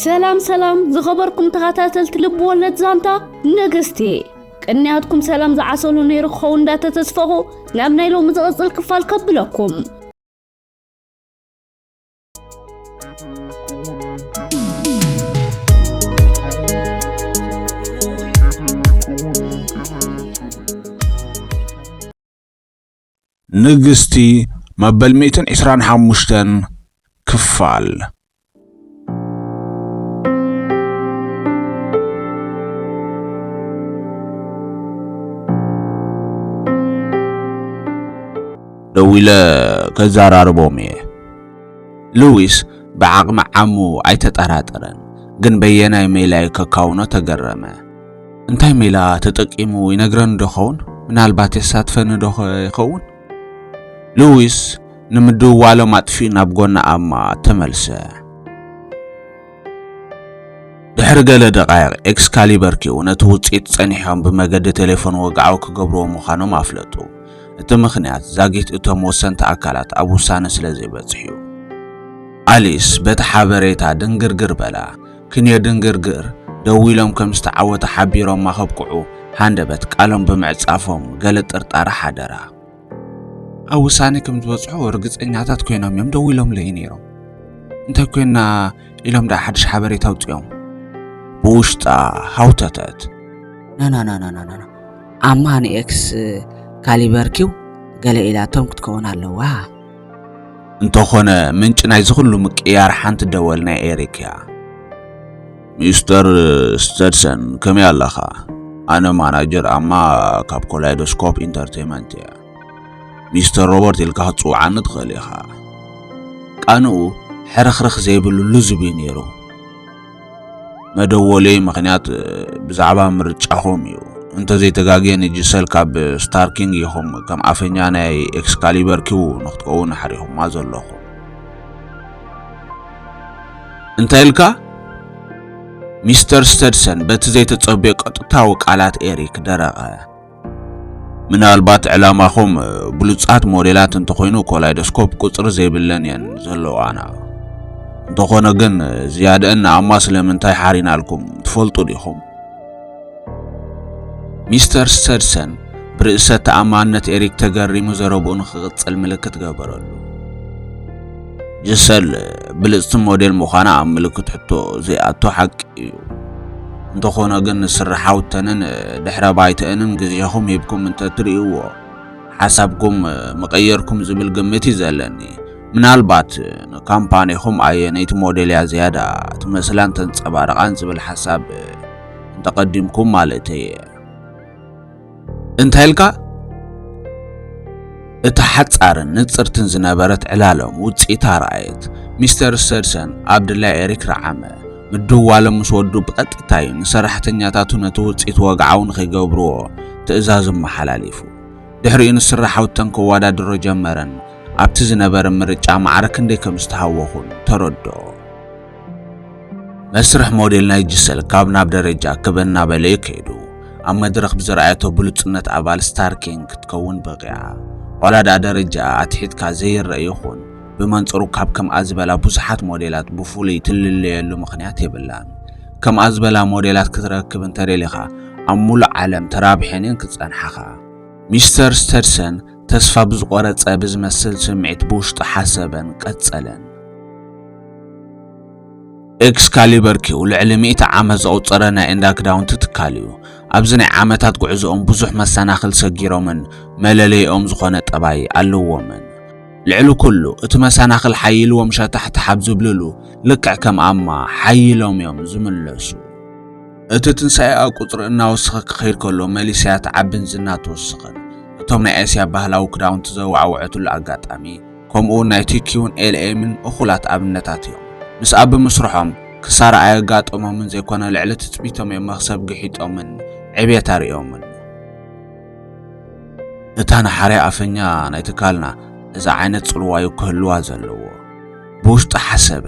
ሰላም ሰላም ዝኸበርኩም ተኸታተልቲ ልቢ ወለድ ዛንታ ነገስቲ ቅንያትኩም ሰላም ዝዓሰሉ ነይሩ ክኸውን እንዳተተስፈኹ ናብ ናይ ሎሚ ዝቕፅል ክፋል ከብለኩም ንግስቲ መበል ሚእትን ዕስራን ሓሙሽተን ክፋል ደዊለ ከዘራርቦም እየ። ሉዊስ ብዓቕሚ ዓሙ ኣይተጠራጠረን፣ ግን በየናይ ሜላይ ከካውኖ ተገረመ። እንታይ ሜላ ተጠቂሙ ይነግረኒ ዶ ኸውን? ምናልባት የሳትፈኒ ዶ ይኸውን? ሉዊስ ንምድውዋሎም ኣጥፊኡ ናብ ጎና ኣማ ተመልሰ። ድሕሪ ገለ ደቓይቕ ኤክስካሊበር ኪው ነቲ ውጽኢት ጸኒሖም ብመገዲ ቴሌፎን ወግዓዊ ክገብርዎ ምዃኖም ኣፍለጡ። እቲ ምኽንያት ዛጊት እቶም ወሰንቲ ኣካላት ኣብ ውሳነ ስለ ዘይበጽሑ እዩ። ኣሊስ በቲ ሓበሬታ ድንግርግር በላ። ክንዮ ድንግርግር ደው ኢሎም ከም ዝተዓወተ ሓቢሮማ ከብቅዑ ሃንደበት ቃሎም ብምዕጻፎም ገለ ጥርጣረ ሓደራ። ኣብ ውሳኔ ከም ዝበጽሑ ርግጸኛታት ኮይኖም እዮም ደው ኢሎምለይ ነይሮም። እንታይ ኮይና ኢሎም ደኣ ሓድሽ ሓበሬታ ኣውጽኦም ብውሽጣ ሃውተተት ናናናናናና ኣማ ንኤክስ ካሊበር ኪው ገለ ኢላቶም ክትከውን ኣለዋ እንተኾነ ምንጪ ናይ ዝኹሉ ምቅያር ሓንቲ ደወል ናይ ኤሪክ እያ። ሚስተር ስተድሰን ከመይ ኣለኻ? ኣነ ማናጀር ኣማ ካብ ኮላይዶስኮፕ ኢንተርቴንመንት እያ። ሚስተር ሮበርት ኢልካ ክትጽውዓኒ ትኽእል ኢኻ። ቃንኡ ሕርኽርኽ ዘይብሉ ልዙብ እዩ ነይሩ። መደወለይ ምክንያት ብዛዕባ ምርጫኹም እዩ እንተዘይተጋግየ ንጅሰል ካብ ስታርኪንግ ኢኹም ከም ኣፈኛ ናይ ኤክስካሊበር ኪው ንክትከውን ሓሪኹማ ዘለኹም እንታይ ኢልካ ሚስተር ስተድሰን በቲ ዘይተጸብዮ ቀጥታዊ ቃላት ኤሪክ ደረቐ ምናልባት ዕላማኹም ብሉጻት ሞዴላት እንተኾይኑ ኮላይዶስኮፕ ቁጽሪ ዘይብለን እየን ዘለዋና። እንተኾነ ግን ዝያደአን ንኣማ ስለምንታይ ሓሪናልኩም ትፈልጡ ዲኹም? ሚስተር ስተድሰን ብርእሰ ተኣማንነት ኤሪክ ተገሪሙ ዘረብኡ ንኽቕጽል ምልክት ገበረሉ። ጅሰል ብልጽቲ ሞዴል ምዃና ኣብ ምልክት ሕቶ ዘይኣቶ ሓቂ እዩ። እንተኾነ ግን ስርሓውተንን ድሕረ ባይተአንን ግዜኹም ሂብኩም እንተትርእይዎ ሓሳብኩም ምቐየርኩም ዝብል ግምት እዩ ዘለኒ። ምናልባት ንካምፓኒኹም ኣየነይቲ ሞዴል እያ ዝያዳ ትመስላን ተንጸባርቓን ዝብል ሓሳብ እንተቐዲምኩም ማለተይ እየ። እንታይ ኢልካ? እታ ሓጻርን ንጽርትን ዝነበረት ዕላሎም ውጽኢታ ረኣየት። ሚስተር ስተድሰን ኣብ ድላይ ኤሪክ ረዓመ። ምድዋሎም ምስ ወዱ ብቐጥታ እዩ ንሰራሕተኛታቱ ነቲ ውጽኢት ወግዓዊ ንኺገብርዎ ትእዛዝ መሓላሊፉ። ድሕሪኡ ንስራሓውተን ከወዳድሮ ጀመረን። ኣብቲ ዝነበረ ምርጫ ማዕረ ክንደይ ከም ዝተሃወኹን ተረድኦ። መስርሕ ሞዴል ናይ ጂሰል ካብ ናብ ደረጃ ክብ እናበለ እዩ ከይዱ። ኣብ መድረኽ ብዘርኣየቶ ብሉጽነት ኣባል ስታር ኪንግ ክትከውን በቒዓ። ዋላ ደኣ ደረጃኣ ኣትሒትካ ዘይረኣ ይኹን፣ ብመንጽሩ ካብ ከምኣ ዝበላ ብዙሓት ሞዴላት ብፍሉይ ትልለየሉ ምኽንያት የብላን። ከምኣ ዝበላ ሞዴላት ክትረክብ እንተደሊኻ ኣብ ምሉእ ዓለም ተራብሐን እየን ክጸንሓኻ። ሚስተር ስተድሰን ተስፋ ብዝቆረጸ ብዝመስል ስምዒት ብውሽጡ ሓሰበን ቀጸለን። ኤክስካሊበር ኪው ልዕሊ ሚእቲ ዓመት ዘቑፀረ ናይ እንዳ ክዳውንቲ ትካል እዩ። ኣብዚ ናይ ዓመታት ጉዕዞኦም ብዙሕ መሰናኽል ሰጊሮምን መለለይኦም ዝኾነ ጠባይ ኣለዎምን። ልዕሊ ኩሉ እቲ መሰናኽል ሓይልዎም ሸታሕታሕ ኣብ ዝብልሉ ልክዕ ከም ኣማ ሓይሎም እዮም ዝምለሱ። እቲ ትንሳኤኣ ቁጽሪ እናወሰኸ ክኸይድ ከሎ መሊሳያ ትዓብን ዝና ትውስኽን። እቶም ናይ ኤስያ ባህላዊ ክዳውንቲ ዘወዓወዐትሉ ኣጋጣሚ፣ ከምኡ'ውን ናይ ቲኪውን ኤልኤምን እኹላት ኣብነታት እዮም። ምስኣ ብምስርሖም፣ ክሳራ ኣየጋጠሞምን ዘይኮነ ልዕሊ ትጽቢቶም እዮም መኽሰብ ግሒጦምን ዕብየት ኣርእዮምን። እታ ንሓርያ ኣፈኛ ናይ ትካልና፣ እዚ ዓይነት ጽልዋ'ዩ ክህልዋ ዘለዎ። ብውሽጡ ሓሰበ።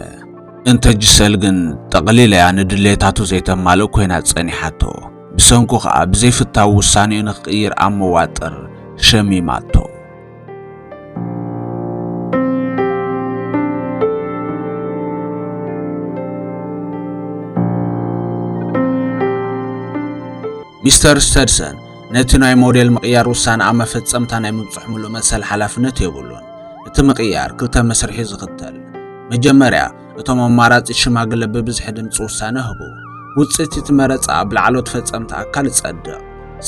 እንተ ጂሰል ግን ጠቕሊላ'ያ ንድሌታቱ ዘይተማልእ ኮይና ጸኒሓቶ። ብሰንኩ ከኣ ብዘይፍታው ውሳኔኡ ንክቕይር ኣብ መዋጥር ሸሚማቶ። ሚስተር ስተድሰን ነቲ ናይ ሞዴል ምቕያር ውሳነ ኣብ መፈጸምታ ናይ ምብጽሑ ምሉእ መሰል ሓላፍነት የብሉን። እቲ ምቕያር ክልተ መስርሕ'ዩ ዝኽተል። መጀመርያ፣ እቶም ኣማራጺት ሽማግለ ብብዝሒ ድምጺ ውሳነ ህቡ። ውጽኢት እቲ መረጻ ኣብ ላዕሎት ፈጸምቲ ኣካል ይጸድቕ።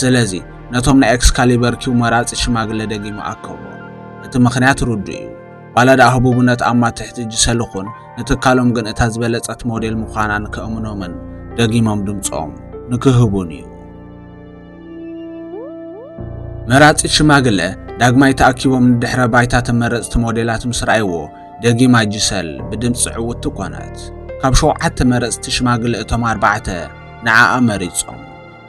ስለዚ፣ ነቶም ናይ ኤክስካሊበር ኪው መራጺት ሽማግለ ደጊሙ ኣከቦም። እቲ ምኽንያት ርዱእ'ዩ፣ ዋላ ደኣ ህቡብነት ኣብ ማትሕቲ ጅሰ ልኹን፣ ንትካሎም ግን እታ ዝበለጸት ሞዴል ምዃና ንከእምኖምን ደጊሞም ድምጾም ንክህቡን እዩ። መራጺት ሽማግለ ዳግማይ ተኣኪቦም ንድሕረ ባይታ ተመረጽቲ ሞዴላት ምስ ረኣይዎ ደጊማ ጂሰል ብድምጺ ዕውትቲ ኮነት። ካብ ሸውዓተ መረጽቲ ሽማግለ እቶም ኣርባዕተ ንዓኣ መሪጾም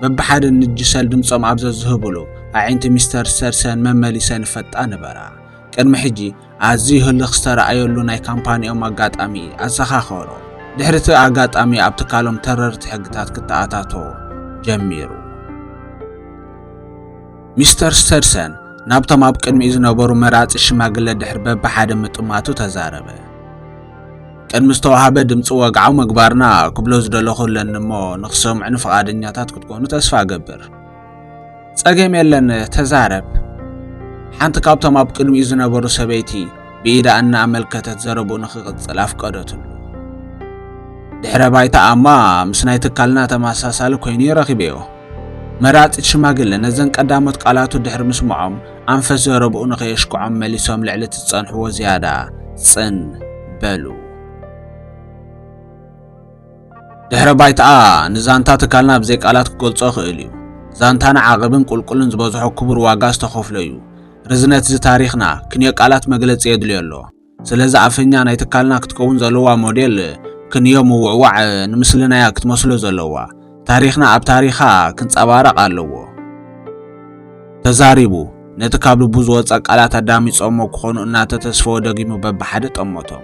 በብሓደ ንጂሰል ድምጾም ኣብ ዘዝህብሉ ኣዒንቲ ሚስተር ስተርሰን መመሊሰን ይፈጣ ነበራ። ቅድሚ ሕጂ ኣዝዩ ህልኽ ዝተራእየሉ ናይ ካምፓኒኦም ኣጋጣሚ ኣዘኻኸሮ። ድሕሪ እቲ ኣጋጣሚ ኣብ ትካሎም ተረርቲ ሕግታት ክተኣታቶ ጀሚሩ። ሚስተር ስተድሰን ናብቶም ኣብ ቅድሚኡ ዝነበሩ መራጺ ሽማግለ ድሕሪ በብሓደ ምጥማቱ ተዛረበ። ቅድሚ ዝተዋህበ ድምፂ ወግዓዊ ምግባርና ክብሎ ዝደለኹ ኣለኒ እሞ ንክሰምዑኒ ፍቓደኛታት ክትኮኑ ተስፋ እገብር። ጸገም የለን ተዛረብ። ሓንቲ ካብቶም ኣብ ቅድሚኡ ዝነበሩ ሰበይቲ ብኢዳ እናኣመልከተት ዘረብኡ ንኽቕጽል ኣፍቀደትሉ። ድሕረ ባይታኣማ ምስ ናይ ትካልና ተመሳሳሊ ኮይኑ ይረኺበዮ። መራጺት ሽማግለ ነዘን ቀዳሞት ቃላቱ ድሕሪ ምስምዖም ኣንፈት ዘረብኡ ንኸየሽክዖም መሊሶም ልዕሊ እቲ ዝጸንሕዎ ዝያዳ ጽን በሉ። ድሕረ ባይታኣ ንዛንታ ትካልና ብዘይ ቃላት ክገልጾ ክእል እዩ። ዛንታና ዓቐብን ቁልቁልን ዝበዝሖ ክቡር ዋጋ ዝተኸፍሎ እዩ። ርዝነት እዚ ታሪኽና ክንዮ ቃላት መግለጺ የድልዮ ኣሎ። ስለዚ ኣፈኛ ናይ ትካልና ክትከውን ዘለዋ ሞዴል ክንዮ ምውዕዋዕ ንምስልናያ ክትመስሎ ዘለዋ። ታሪኽና ኣብ ታሪኻ ክንጸባረቕ ኣለዎ። ተዛሪቡ ነቲ ካብ ልቡ ዝወጸ ቃላት ኣዳሚጾሞ ክኾኑ እናተተስፈወ ደጊሙ በብሓደ ጠመቶም።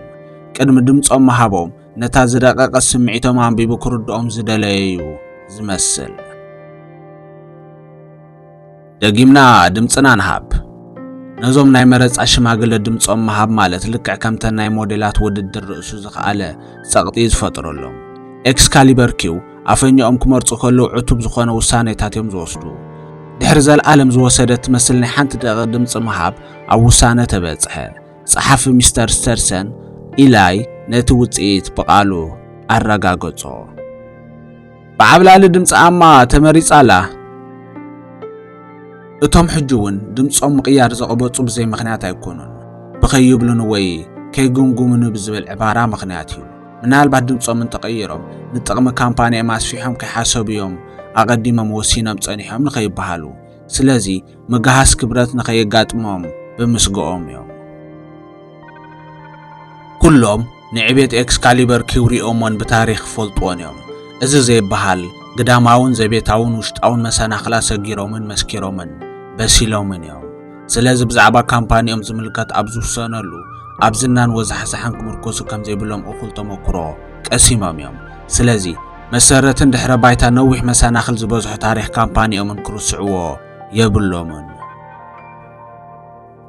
ቅድሚ ድምጾም ምሃቦም ነታ ዝደቀቀ ስምዒቶም ኣንቢቡ ክርድኦም ዝደለየ እዩ ዝመስል። ደጊምና ድምፅና ንሃብ። ነዞም ናይ መረፃ ሽማግለ ድምፆም ምሃብ ማለት ልክዕ ከምተን ናይ ሞዴላት ውድድር ርእሱ ዝኸኣለ ጸቕጢ እዩ ዝፈጥረሎም። ኤክስካሊበር ኪው ኣፈኛኦም ክመርፁ ከለዉ ዕቱብ ዝኾነ ውሳኔታት እዮም ዝወስዱ። ድሕሪ ዘለዓለም ዝወሰደ ትመስል ናይ ሓንቲ ደቂቕ ድምፂ ምሃብ ኣብ ውሳነ ተበፅሐ። ጸሓፊ ሚስተር ስተርሰን ኢላይ ነቲ ውጽኢት ብቓሉ ኣረጋገጾ። ብዓብላሊ ድምፂ ኣማ ተመሪጻላ። እቶም ሕጂ እውን ድምፆም ምቕያር ዘቕበጹ ብዘይ ምኽንያት ኣይኮኑን። ብኸይብሉን ወይ ከይግምግሙን ብዝብል ዕባራ ምኽንያት እዩ። ምናልባት ድምፆም እንተቐይሮም ንጥቕሚ ካምፓኒኦም ኣስፊሖም ከይሓሰቡ እዮም ኣቐዲሞም ወሲኖም ጸኒሖም ንኸይበሃሉ። ስለዚ ምግሃስ ክብረት ንኸየጋጥሞም ብምስግኦም እዮም። ኩሎም ንዕቤት ኤክስካሊበር ኪውሪኦሞን ብታሪኽ ክፈልጥዎን እዮም። እዚ ዘይበሃል ግዳማውን ዘቤታውን ውሽጣውን መሰናኽላት ሰጊሮምን መስኪሮምን በሲሎምን እዮም። ስለዚ ብዛዕባ ካምፓኒኦም ዝምልከት ኣብ ዝውሰነሉ ኣብ ዝናን ወዛሕዛሕን ክምርኮሱ ከም ዘይብሎም እኹል ተመክሮ ቀሲሞም እዮም። ስለዚ መሰረትን ድሕረ ባይታ ነዊሕ መሰናኽል ዝበዝሖ ታሪኽ ካምፓኒኦምን ክርስዕዎ የብሎምን።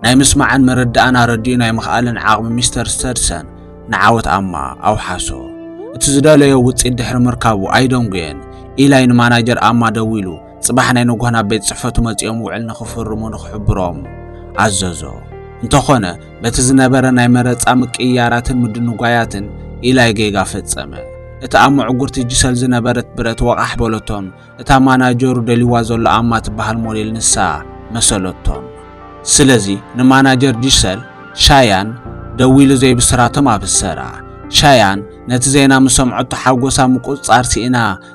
ናይ ምስማዕን ምርዳእን ኣረዲኡ ናይ ምኽኣልን ዓቕሚ ሚስተር ስተድሰን ንዓወት ኣማ ኣውሓሶ። እቲ ዝደለዮ ውጽኢት ድሕሪ ምርካቡ ኣይደንጎየን። ኢላይ ንማናጀር ኣማ ደዊሉ ጽባሕ ናይ ንጎሆ ናብ ቤት ጽሕፈቱ መጺኦም ውዕል ንኽፍርሙ ንኽሕብሮም ኣዘዞ። እንተኾነ በቲ ዝነበረ ናይ መረጻ ምቅይያራትን ምድንጓያትን ኢላይ ጌጋ ፈጸመ። እቲ ኣብ መዕጉርቲ ጅሰል ዝነበረት ብረት ወቓሕ በለቶን እታ ማናጀሩ ደልይዋ ዘሎ ኣማ ትበሃል ሞዴል ንሳ መሰለቶን። ስለዚ ንማናጀር ጅሰል፣ ሻያን፣ ደዊሉ ዘይብስራቶም ኣብሰራ። ሻያን ነቲ ዜና ምስ ሰምዐቶ ሓጎሳ ምቁጽጻር ስኢና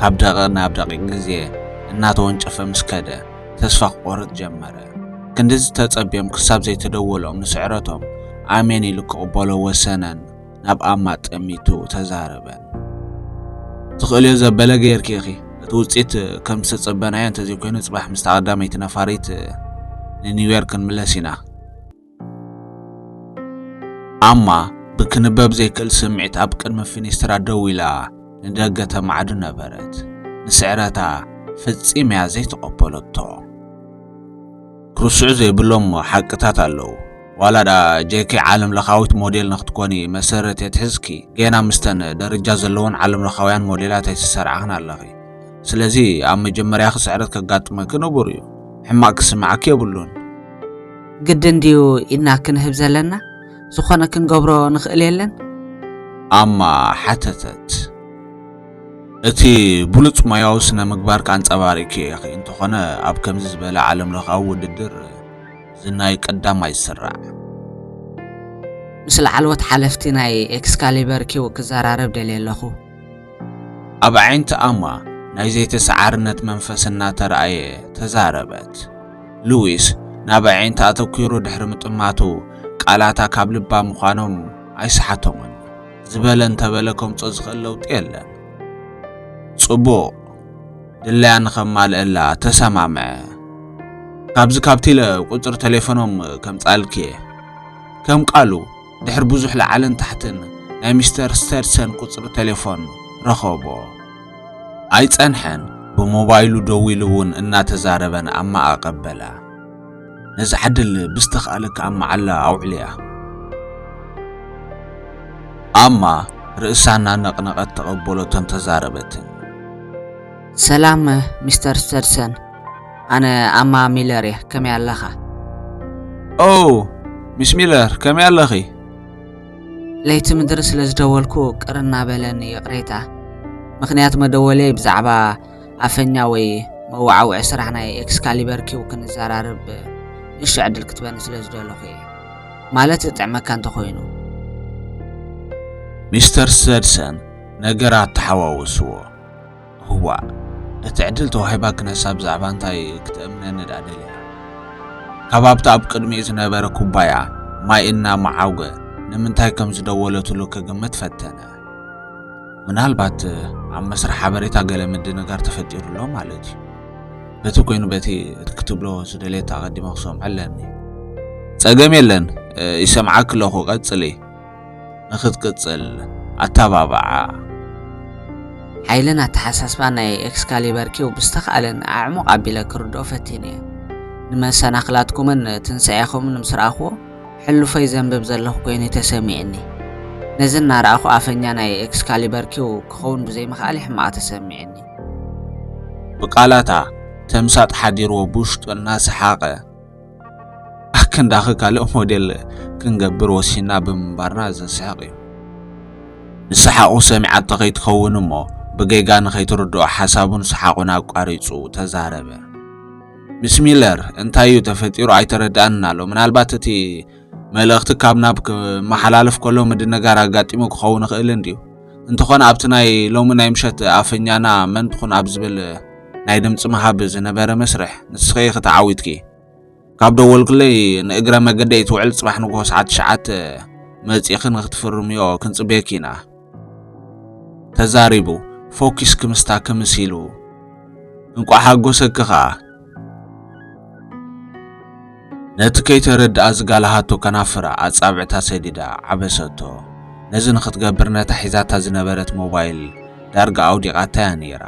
ካብ ደቒቕ ናብ ደቒቕ ግዜ እናተወንጨፈ ምስ ከደ፣ ተስፋ ክቖርጽ ጀመረ። ክንድዚ ተጸብዮም ክሳብ ዘይተደወሎም ንስዕረቶም ኣሜን ኢሉ ክቕበሎ ወሰነን ናብ ኣማ ጠሚቱ ተዛረበን። ትኽእልዮ ዘበለ ገይርኪ ኢኺ። እቲ ውጽኢት ከም ዝተጸበናዮ እንተዘይኮይኑ ጽባሕ ምስታ ቀዳመይቲ ነፋሪት ንኒውዮርክ ክንምለስ ኢና። ኣማ ብክንበብ ዘይክእል ስምዒት ኣብ ቅድሚ ፊኒስትራ ደው ኢላ ንደገ ተማዕዱ ነበረት። ንስዕረታ ፍጺም እያ ዘይተቐበለቶ። ክርስዑ ዘይብሎም ሓቅታት ኣለዉ። ዋላ ደኣ ጄኪ ዓለም ለኻዊት ሞዴል ንክትኮኒ መሰረት የትሕዝኪ፣ ጌና ምስተን ደረጃ ዘለወን ዓለም ለኻውያን ሞዴላት ኣይተሰርዓኽን ኣለኺ። ስለዚ ኣብ መጀመርያኺ ስዕረት ከጋጥመኪ ንቡር እዩ ሕማቕ ክስምዓኪ የብሉን ግድን ድዩ ኢድና ክንህብ ዘለና ዝኾነ ክንገብሮ ንኽእል የለን ኣማ ሓተተት እቲ ብሉፅ ሞያዊ ስነ ምግባር ካንፀባሪኪ ኢኺ እንተኾነ ኣብ ከምዚ ዝበለ ዓለም ለኻዊ ውድድር ዝናይ ቀዳማይ ስራዕ ምስ ላዕለዎት ሓለፍቲ ናይ ኤክስካሊበር ኪው ክዘራረብ ደልየ ኣለኹ ኣብ ኣዒንቲ ኣማ ናይ ዘይተሰዓርነት መንፈስ እናተራእየ ተዛረበት። ሉዊስ ናብ ኣዒንታ ኣተኲሩ ድሕሪ ምጥማቱ ቃላታ ካብ ልባ ምዃኖም ኣይሰሓቶምን። ዝበለ እንተበለ ከምጾ ዝኽእል ለውጢ የለን። ጽቡቕ ድላያ ንኸማልእላ ተሰማምዐ። ካብዚ ካብቲለ ቁጽሪ ቴሌፎኖም ከምጻልኪ እየ ከም ቃሉ ድሕሪ ብዙሕ ላዕልን ታሕትን ናይ ሚስተር ስተድሰን ቁጽሪ ቴሌፎን ረኸቦ። ኣይጸንሐን ብሞባይሉ ደዊሉ እውን እናተዛረበ ንኣማ ኣቐበላ። ነዚ ዓድል ብዝተኻእለካ ኣብ መዓላ ኣውዕልያ። ኣማ ርእሳ እናነቕነቐት ተቐበሎቶን ተዛረበትን። ሰላም ሚስተር ስተድሰን። ኣነ ኣማ ሚለር እየ ከመይ ኣለኻ ኦ ሚስ ሚለር ከመይ ኣለኺ ለይቲ ምድሪ ስለ ዝደወልኩ ቅር እናበለኒ ይቕሬታ ምክንያት መደወለይ ብዛዕባ ኣፈኛ ወይ መወዓውዒ ስራሕ ናይ ኤክስካሊበር ኪው ክንዘራርብ ንእሽቶ ዕድል ክትበኒ ስለ ዝደለኹ እየ ማለት ዝጥዕመካ እንተኾይኑ ሚስተር ሰድሰን ነገራት ተሓዋውስዎ ህዋእ ነቲ ዕድል ተዋሂባ ክነሳ ብዛዕባ እንታይ ክትእምነኒ ድኣ ደልያ? ካብ ኣብቲ ኣብ ቅድሚኡ ዝነበረ ኩባያ ማይ እናመዓጐ ንምንታይ ከም ዝደወለትሉ ክግምት ፈተነ። ምናልባት ኣብ መስርሕ ሓበሬታ ገለ ምድንጋር ተፈጢሩ ኣሎ ማለት እዩ። በቲ ኮይኑ በቲ እቲ ክትብሎ ዝደለየት ኣቐዲመ ክሰምዖ ኣለኒ። ጸገም የለን ይሰምዓኪ ኣለኹ ቀጽሊ። ንኽትቅጽል ኣተባብዓ። ሓይልን ኣተሓሳስባን ናይ ኤክስካሊበር ኪው ብዝተኻእለኒ ኣዕሙቕ ኣቢለ ክርድኦ ፈቲነ እየ። ንመሰናኽላትኩምን ትንሳኤኹምን ምስ ረኣኹዎ፣ ሕሉፈይ ዘንብብ ዘለኹ ኰይኑ እዩ ተሰሚዑኒ። ነዚ እናረኣኹ ኣፈኛ ናይ ኤክስካሊበር ኪው ክኸውን ብዘይምኽኣለይ ሕማቕ ተሰሚዑኒ። ብቃላታ ተምሳጥ ሓዲርዎ ብውሽጡ እናሰሓቐ። ኣከንዳኺ ካልእ ሞዴል ክንገብር ወሲና ብምንባርና ዘስሕቕ እዩ። ንሰሓቑ ሰሚዓቶ ከይትኸውን እሞ ብጌጋ ንኸይትርድኦ ሓሳቡን ሰሓቑን ኣቋሪጹ ተዛረበ። ምስ ሚለር እንታይ እዩ ተፈጢሩ ኣይተረድኣንን ኣሎ። ምናልባት እቲ መልእኽቲ ካብ ናብ ክመሓላለፍ ከሎ ምድንጋር ኣጋጢሙ ክኸውን ይኽእል እንድዩ። እንተኾነ ኣብቲ ናይ ሎሚ ናይ ምሸት ኣፈኛና መን ትኹን ኣብ ዝብል ናይ ድምፂ ምሃብ ዝነበረ መስርሕ ንስኺ ኢኺ ተዓዊትኪ። ካብ ደወልክለይ ንእግረ መገደይ ትውዕል ፅባሕ ንግሆ ሰዓት ትሽዓተ መፂእኺ ንክትፍርምዮ ክንፅበየኪ ኢና። ተዛሪቡ ፎኪስ ክምስታ ክምስ ኢሉ እንቋዕ ሓጎሰኪ ኸኣ ነቲ ከይተረድኣ ዝጋላሃቶ ከናፍራ ኣጻብዕታ ሰዲዳ ዓበሰቶ። ነዚ ንኽትገብር ነታ ሒዛታ ዝነበረት ሞባይል ዳርጋ ኣውዲቓታ'ያ ነይራ።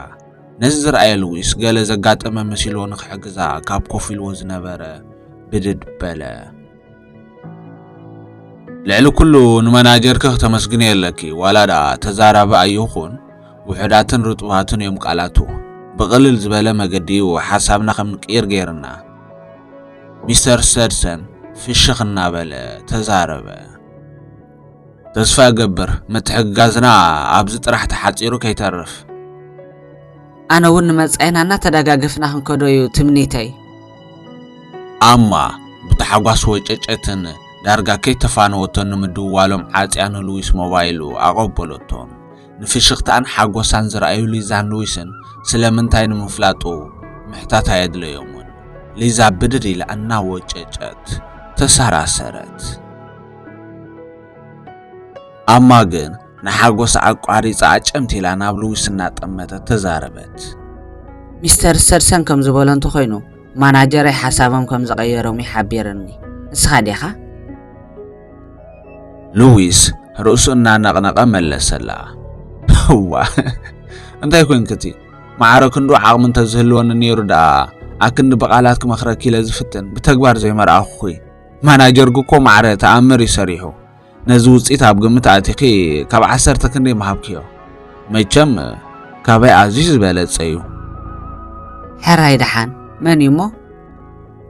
ነዚ ዝረኣየ ሉዊስ ገለ ዘጋጠመ መሲልዎ ንኽሕግዛ ካብ ኮፍ ኢልዎ ዝነበረ ብድድ በለ። ልዕሊ ኩሉ ንመናጀርኪ ክተመስግንዮ ኣለኪ ዋላ ድኣ ተዛራቢ ኣይኹን ውሑዳትን ርጡባትን እዮም ቃላቱ ብቕልል ዝበለ መገዲ እዩ ሓሳብና ከም ንቅይር ገይርና ሚስተር ሰድሰን ፍሽኽ እናበለ ተዛረበ። ተስፋ እገብር ምትሕግጋዝና ኣብዚ ጥራሕ ተሓጺሩ ከይተርፍ። ኣነ እውን ንመጻኢና እናተደጋገፍና ክንከዶ እዩ ትምኒተይ። ኣማ ብታሕጓስ ወጨጨትን ዳርጋ ከይተፋነወቶን ንምድዋሎም ዓጽያ ንሉዊስ ሞባይሉ ኣቐበለቶም። ንፍሽኽታኣን ሓጎሳን ዝረኣዩ ሊዛን ሉዊስን ስለምንታይ ንምፍላጡ ምሕታት ኣየድለዮምን። ሊዛ ብድድ ኢላ እናወጨጨት ተሰራሰረት። ኣማ ግን ንሓጎስ ኣቋሪጻ ኣጨምቲ ኢላ ናብ ልዊስ እናጠመተት ተዛረበት። ሚስተር ስተድሰን ከም ዝበሎ እንተኾይኑ ማናጀረይ ሓሳቦም ከም ዝቐየሮም እዩ ሓቢርኒ። ንስኻ ዲኻ? ልዊስ ርእሱ እናነቕነቐ መለሰላ። እዋ እንታይ ኮንክቲ ማዕረ ክንዱ ዓቕሚ እንተዝህልወኒ ነይሩ ደኣ ኣክንዲ ብቓላት ክመኽረኪ ኢለ ዝፍትን ብተግባር ዘይመርኣኹኺ ማናጀር ግኮ ማዕረ ተኣምር እዩ ሰሪሑ ነዚ ውፅኢት ኣብ ግምት ኣቲኺ ካብ ዓሰርተ ክንደይ ምሃብክዮ መቸም ካበይ ኣዝዩ ዝበለፀ እዩ ሕራይ ደሓን መን እዩ እሞ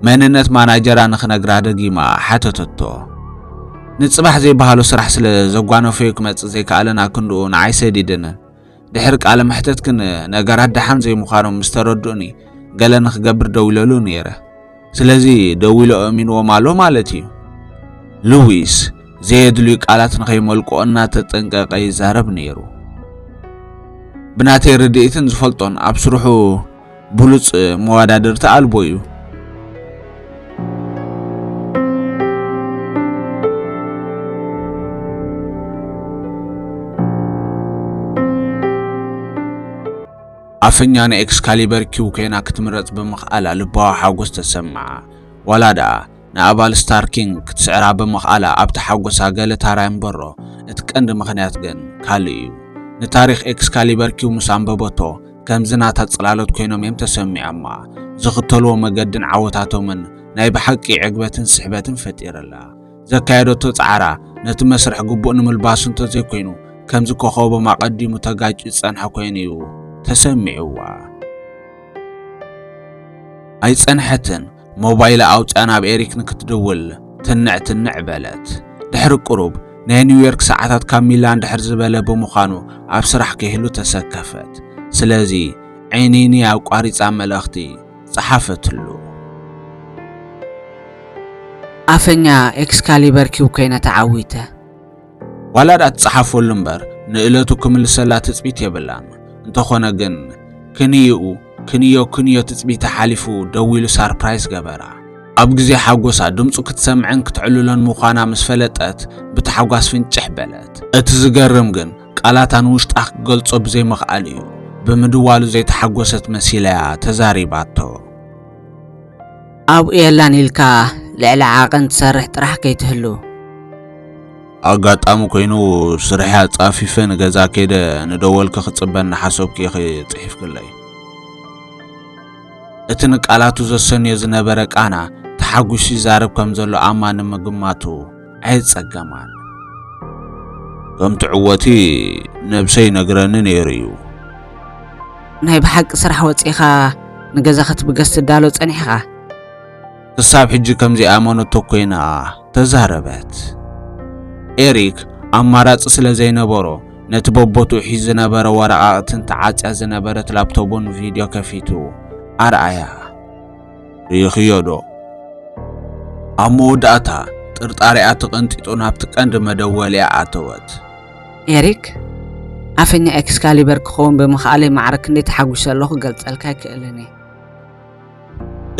መንነት ማናጀራ ንክነግራ ደጊማ ሓተተቶ ንፅባሕ ዘይበሃሎ ስራሕ ስለ ዘጓነፈዩ ክመፅእ ዘይከኣለን ኣክንድኡ ንዓይ ሰዲድንን ድሕሪ ቃለ መሕተትክን ነገራት ደሓን ዘይምዃኖም ምስ ተረድኡኒ ገለ ንክገብር ደዊለሉ ነይረ። ስለዚ ደዊሎ ኣእሚንዎም ኣሎ ማለት እዩ። ሉዊስ ዘየድልዩ ቃላት ንኸይመልቆ እናተጠንቀቐ ይዛረብ ነይሩ። ብናተይ ርድኢትን ዝፈልጦን ኣብ ስርሑ ብሉጽ መወዳድርቲ ኣልቦ እዩ። ኣፈኛ ንኤክስካሊበር ኪው ኮይና ክትምረጽ ብምኽኣላ ልባዊ ሓጎስ ተሰምዓ ዋላ ደኣ ንኣባል ስታር ኪንግ ክትስዕራ ብምኽኣላ ኣብ ተሓጎሳ ገለ ታራ ይንበሮ፣ እቲ ቀንዲ ምኽንያት ግን ካልእ እዩ። ንታሪኽ ኤክስካሊበር ኪው ምስ ኣንበበቶ ከምዚ ናታ ጽላሎት ኮይኖም እዮም ተሰሚዖማ። ዝኽተልዎ መገድን ዓወታቶምን ናይ ብሓቂ ዕግበትን ስሕበትን ፈጢርላ። ዘካየደቶ ጻዕራ ነቲ መስርሕ ግቡእ ንምልባሱ እንተዘይኮይኑ ከምዚ ኮኾቦም ኣቐዲሙ ተጋጭዩ ዝጸንሐ ኮይኑ እዩ ተሰሚዑዋ። ኣይጸንሐትን። ሞባይላ ኣውጽኣ ናብ ኤሪክ ንክትድውል ትንዕ ትንዕ በለት። ድሕሪ ቅሩብ ናይ ኒውዮርክ ሰዓታት ካብ ሚላን ድሕር ዝበለ ብምዃኑ ኣብ ስራሕ ከይህሉ ተሰከፈት። ስለዚ ዒኒኒ ኣቋሪጻ መልእኽቲ ጸሓፈትሉ። ኣፈኛ ኤክስካሊበር ኪው ኮይነ ተዓዊተ። ዋላ ድኣ ትጽሓፈሉ እምበር ንእለቱ ክምልሰላ ትጽቢት የብላን። እንተኾነ ግን ክንይኡ ክንዮ ክንዮ ትጽቢታ ሓሊፉ ደዊሉ ሳርፕራይዝ ገበራ። ኣብ ግዜ ሓጎሳ ድምጹ ክትሰምዕን ክትዕልሎን ምዃና ምስ ፈለጠት ብታሕጓስ ፍንጭሕ በለት። እቲ ዝገርም ግን ቃላታ ንውሽጣ ክገልጾ ብዘይምኽኣሉ እዩ። ብምድዋሉ ዘይተሓጎሰት መሲላያ ተዛሪባቶ። ኣብኡ የላን ኢልካ ልዕሊ ዓቐን ትሰርሕ ጥራሕ ከይትህሉ። ኣጋጣሚ ኮይኑ ስርሐይ ኣጻፊፈ ንገዛ ከይደ ንደወልኪ ክጽበ እናሓሰብኩ ኢኺ ጽሒፍክለይ። እቲ ንቃላቱ ዘሰንዮ ዝነበረ ቃና ተሓጒሱ ይዛረብ ከም ዘሎ ኣማ ንምግማቱ ኣይጸገማን። ከም ትዕወቲ ነብሰይ ነግረኒ ነይሩ እዩ። ናይ ብሓቂ ስራሕ ወጺእኻ ንገዛ ክትብገስ ትዳሎ ጸኒሕኻ? ክሳብ ሕጂ ከም ዘይኣመነቶ ኮይና ተዛረበት። ኤሪክ ኣማራጺ ስለ ዘይነበሮ ነቲ በቦትኡ ሒዝ ዝነበረ ወረቓቕትን ተዓጽያ ዝነበረት ላፕቶቡን ቪድዮ ከፊቱ ኣርኣያ። ርኢኽዮዶ? ኣብ መወዳእታ፣ ጥርጣሬኣ ተቐንጢጡ ናብቲ ቀንዲ መደወሊኣ ኣተወት። ኤሪክ፣ ኣፈኛ ኤክስካሊበር ክኸውን ብምኽኣለይ ማዕረ ክንደይ ተሓጒሰ ኣለኹ ክገልጸልካ ኣይክእልን እየ።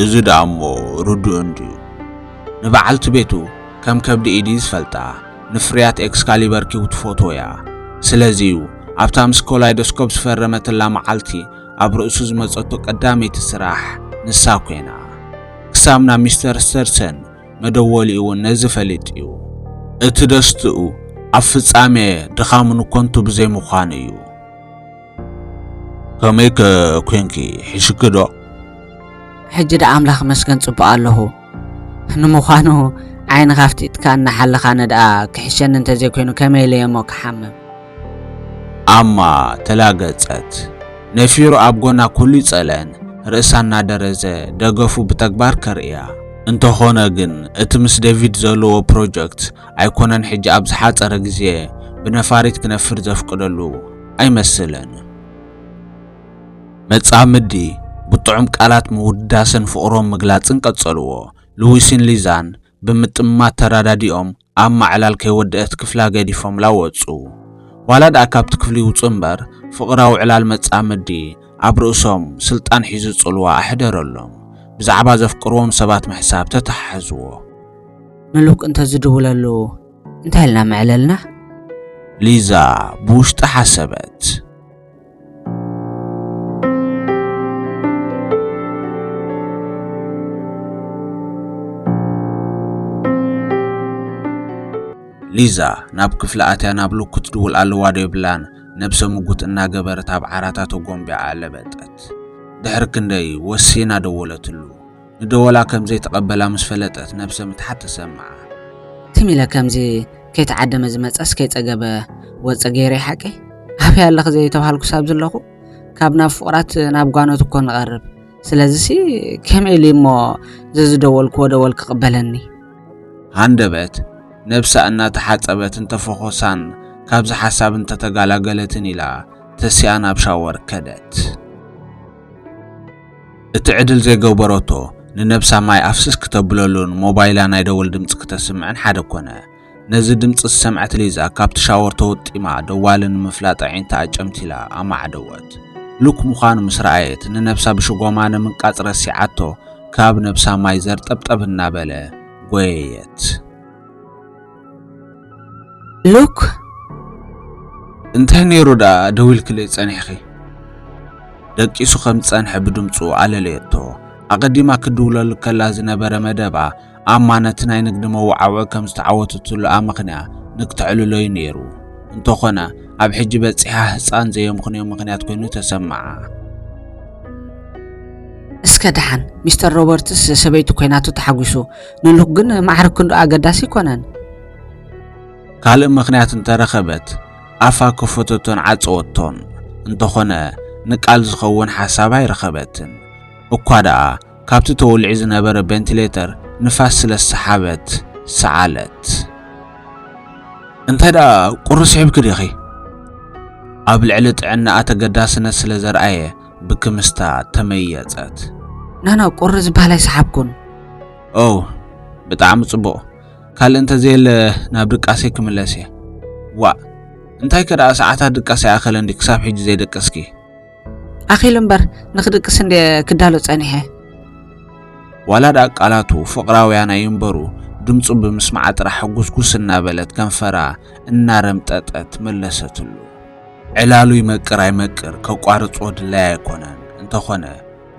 እዚ ደኣ እሞ ርዱእ እንድዩ። ንበዓልቲ ቤቱ ከም ከብዲ ኢድ'ዩ ዝፈልጣ፣ ንፍርያት ኤክስካሊበር ኪው ትፈትዎ እያ። ስለዚ'ዩ ኣብታ ምስ ኮላይዶስኮፕ ዝፈረመትላ መዓልቲ፣ ኣብ ርእሱ ዝመጸቶ ቀዳመይቲ ስራሕ ንሳ ኰይና። ክሳብ ናብ ሚስተር ስተርሰን መደወሊኡ እውን ነዚ ፈሊጥ እዩ። እቲ ደስትኡ ኣብ ፍጻሜ ድኻሙ ንኮንቱ ብዘይምዃኑ እዩ። ከመይ ከ ኰንኪ? ሕሽኪ ዶ? ሕጂ ደኣ ኣምላኽ ይመስገን ጽቡቕ ኣለኹ። ንምዃኑ ዓይንኻ ኣፍጢጥካ እናሓለኻ ነድኣ ክሕሸኒ እንተዘይኮይኑ ከመይ ኢለ እየሞ ክሓምም? ኣማ ተላገጸት። ነፊሩ ኣብ ጎና ኩሉ ይጸልአን ርእሳ እናደረዘ ደገፉ ብተግባር ከርእያ። እንተኾነ ግን እቲ ምስ ዴቪድ ዘለዎ ፕሮጀክት ኣይኮነን ሕጂ ኣብ ዝሓጸረ ግዜ ብነፋሪት ክነፍር ዘፍቅደሉ ኣይመስልን። መጻምዲ ብጥዑም ቃላት ምውዳሰን ፍቕሮም ምግላጽን ቀጸልዎ። ሉዊስን ሊዛን ብምጥማት ተረዳዲኦም ኣብ ማዕላል ከይወደኣት ክፍላ ገዲፎምላ ወጹ። ዋላ ድኣ ካብቲ ክፍሊ ይውጹ እምበር ፍቕራዊ ዕላል መጻምዲ ኣብ ርእሶም ስልጣን ሒዙ ጽልዋ ኣሕደረሎም። ብዛዕባ ዘፍቅርዎም ሰባት ምሕሳብ ተተሓሕዝዎ። ምሉክ እንተ ዝድውለሉ እንታይ ኢልና ምዕለልና? ሊዛ ብውሽጣ ሓሰበት። ሊዛ ናብ ክፍሊ ኣትያ ናብ ሉክ ክትድውል ኣለዋ ዶ የብላን ነብሰ ምጉት እናገበረት ኣብ ዓራታ ተጎንቢያ ኣለበጠት። ድሕሪ ክንደይ ወሲና ደወለትሉ። ንደወላ ከም ዘይተቐበላ ምስ ፈለጠት ነብሰ ምትሓት ተሰምዓ። ትም ኢለ ከምዚ ከይተዓደመ ዝመጸስ ከይጸገበ ወጸ ገይረይ ሓቀይ ኣበይ ኣለኺ ዘይተባሃልኩስ ኣብ ዘለኹ ካብ ናብ ፍቕራት ናብ ጓኖት እኮ ንቐርብ ስለዚሲ ከመይ ኢሉ እሞ ዘዝደወልክዎ ደወል ክቕበለኒ ሃንደበት ነብሳ እናተሓጸበትን ተፈኾሳን ካብዚ ሓሳብ እንተተጋላገለትን ኢላ ተሲኣ ናብ ሻወር ከደት። እቲ ዕድል ዘይገበረቶ ንነብሳ ማይ ኣፍስስ ክተብለሉን ሞባይላ ናይ ደወል ድምፂ ክተስምዕን ሓደ ኮነ። ነዚ ድምፂ ዝሰምዐት ሊዛ ካብቲ ሻወር ተወጢማ ደዋሊ ንምፍላጥ ኣዒንታ ኣጨምቲላ ኣማዕደወት። ሉክ ምዃኑ ምስ ረኣየት ንነብሳ ብሽጎማ ንምንቃፅ ረሲዓቶ ካብ ነብሳ ማይ ዘርጠብጠብ እናበለ ጎየየት። ሉክ እንታይ ነይሩ ደኣ ደዊልክለይ ጸኒሕኺ? ደቂሱ ከም ዝጸንሐ ብድምጹ ኣለለየቶ። ኣቐዲማ ክድውለሉ ከላ ዝነበረ መደባ ኣማነቲ ናይ ንግዲ መወዓውዒ ከም ዝተዓወተትሉ ኣመኽንያ ንክተዕልሎዩ ነይሩ። እንተኾነ ኣብ ሕጂ በጺሓ ህጻን ዘየምኽንዮ ምኽንያት ኮይኑ ተሰምዓ። እስከ ደሓን ሚስተር ሮበርትስ ሰበይቱ ኮይናቱ ተሓጒሱ ንልክ ግን ማዕረ ክንዱ ኣገዳሲ ኣይኮነን። ካልእ ምኽንያት እንተረኸበት ኣፋ ከፈተቶን ዓጸወቶን፣ እንተኾነ ንቃል ዝኸውን ሓሳብ ኣይረኸበትን። እኳ ደኣ ካብቲ ተወሊዑ ዝነበረ ቬንቲሌተር ንፋስ ስለ ዝሰሓበት ሰዓለት። እንተ ደኣ ቁሪ ስሒብኪ ዲኺ? ኣብ ልዕሊ ጥዕናኣ ተገዳስነት ስለ ዘርኣየ ብክምስታ ተመየጸት። ናና ቁሪ ዝበሃል ኣይሰሓብኩን። ኦው ብጣዕሚ ጽቡቕ ካልእ እንተዘየለ ናብ ድቃሰይ ክምለስ እየ። ዋእ እንታይ ከደኣ ሰዓታት ድቃስ ኣይኣኸለን ድዩ ክሳብ ሕጂ ዘይደቀስኪ? ኣኺሉ እምበር ንኽድቅስ እንድየ ክዳሎ ጸኒሐ። ዋላ ደኣ ቃላቱ ፍቕራውያን ኣይንበሩ ድምፁ ብምስማዓ ጥራሕ ሕጉስጉስ እናበለት ከንፈራ እናረምጠጠት መለሰትሉ። ዕላሉ ይመቅር ኣይመቅር ከቋርጾ ድላይ ኣይኮነን እንተኾነ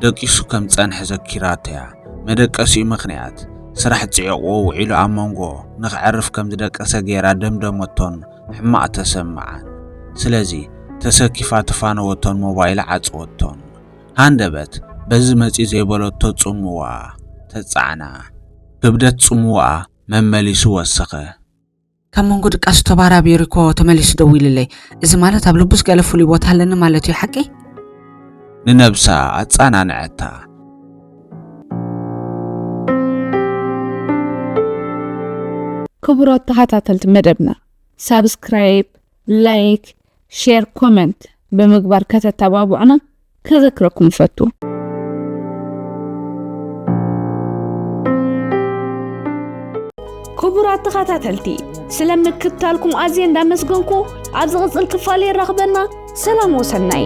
ደቂሱ ከም ዝጸንሐ ዘኪራቶ'ያ። መደቀሲኡ ምኽንያት ስራሕ ጽዒቑዎ ውዒሉ ኣብ መንጎ ንኸዕርፍ ከም ዝደቀሰ ገይራ ደምደመቶን ሕማቕ ተሰምዓን። ስለዚ ተሰኪፋ ተፋነወቶን ሞባይላ ዓጸወቶን። ሃንደበት በዚ መጺኡ ዘይበለቶ ጽምዋኣ ተጻዕና። ክብደት ጽምዋኣ መመሊሱ ወሰኸ። ካብ መንጎ ድቃሱ ተባራቢሩ እኮ ተመሊሱ ደዊሉለይ እዚ ማለት ኣብ ልቡስ ገለ ፍሉይ ቦታ ኣለኒ ማለት እዩ ሓቂ ንነብሳ ኣጻናንዐታ ክቡራት ተኸታተልቲ መደብና ሳብስክራይብ ላይክ ሼር ኮመንት ብምግባር ከተተባብዑና ከዘክረኩም እፈቱ። ክቡራት ተኸታተልቲ ስለ ምክትታልኩም ኣዝየ እንዳመስገንኩ ኣብ ዝቕፅል ክፋል የራኽበና። ሰላም ወሰናይ